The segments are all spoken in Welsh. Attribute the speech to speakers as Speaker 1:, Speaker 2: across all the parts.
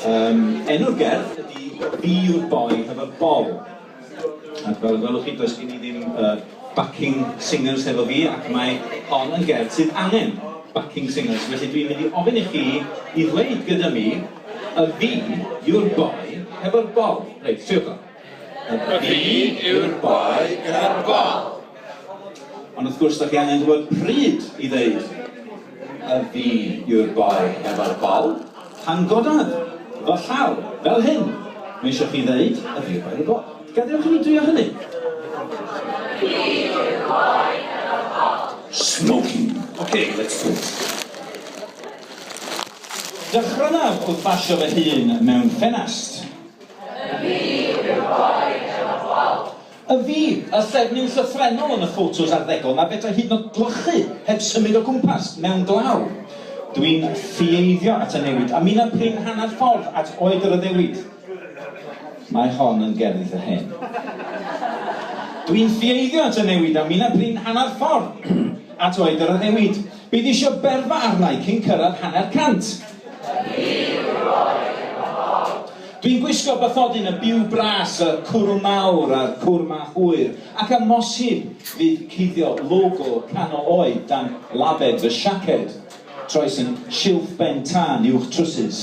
Speaker 1: Um, enw'r gerdd ydy Be Your Boy Have a Ball. Ac fel y gwelwch chi, does gen i ddim uh, backing singers efo fi, ac mae hon yn gerdd sydd angen backing singers. Felly dwi'n mynd i ofyn i chi i ddweud gyda mi, y fi, your boy, hefo'r bol. Reit, siwch o. Y pryd
Speaker 2: yw'r boi gyda'r bol.
Speaker 1: Ond wrth gwrs, dach chi angen gwybod pryd i ddeud y fi yw'r boi efo'r bol. Pan godaf fy llaw, fel hyn, mae eisiau chi ddeud y fi yw'r boi efo'r bol. Gadewch i mi drio hynny.
Speaker 2: Fi yw'r boi efo'r bol. Smoking.
Speaker 1: OK, let's do it. Dechreuaf wrth basio fy hun mewn ffenast. Y fi
Speaker 2: yw'r boi efo bol. Y fi,
Speaker 1: y ffefryn llythrennol yn y ffotos arddegol 'na fedrai hyd yn o'd gwlychu heb symud o gwmpas, mewn glaw. Dwi'n ffieiddio at y newid, a mina prin hanner ffordd at oed yr addewid. Mae hon yn gerddi eitha hen. Dwi'n ffieiddio at y newid, a mina prin hanner ffordd at oed yr addewid. Bydd isio berfa arna i cyn cyrraedd hanner cant. Dwi'n gwisgo bathodyn y byw bras, y cwrw mawr a'r cwr ma hwyr, ac amosib fydd cuddio logo canol oed dan lafed fy siaced, troes yn silff ben tân uwch trwsus.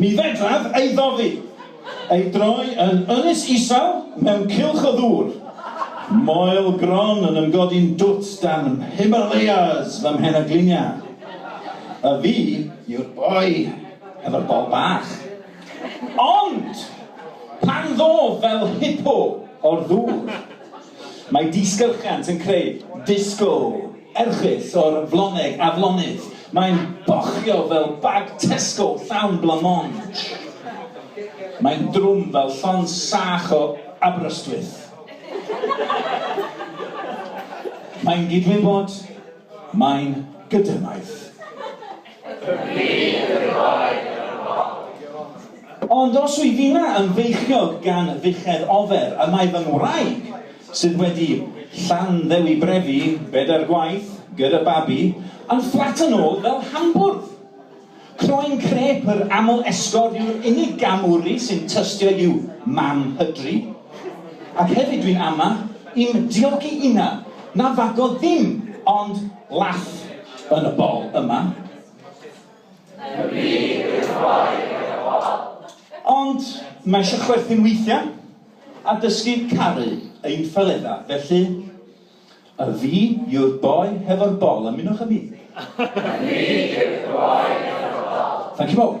Speaker 1: Mi fedraf ei ddofi, ei droi yn ynys isel mewn cylch o ddŵr, moel gron yn ymgodi'n dwt dan Himalayas fy mhen a glinia. A fi yw'r boi hefo'r bol bach. Ond! Pan ddof fel hipo o'r ddŵr, Mae disgylchiant yn creu disgo erchyll o'r floneg aflonydd. Mae'n bochio fel bag Tesco llawn blamonge. Mae'n drwm fel llon sach o Aberystwyth. Mae'n gydwybod, mae'n gydymaith. Ond os wyf inna yn feichiog gan dduchedd ofer y mae fy ngwraig, sydd wedi Llanddewi brefi bedair gwaith gyda babi, yn fflat yn ôl fel hambwrdd! Croen crêp yr aml esgor yw'r unig gam wry sy'n tystio i'w mam hydri. Ac hefyd dwi'n ama, i'm diogi inna, na fagodd ddim, ond Laff yn y bol yma. Y byd yw boi yn y bol. Ond mae eisiau chwerthin weithiau a dysgu caru ein ffeleddau, felly y fi yw'r boi hefo'r bol, ymunwch â
Speaker 2: mi.
Speaker 1: Y fi
Speaker 2: yw'r
Speaker 1: boi
Speaker 2: hefo'r bol. Thank you all.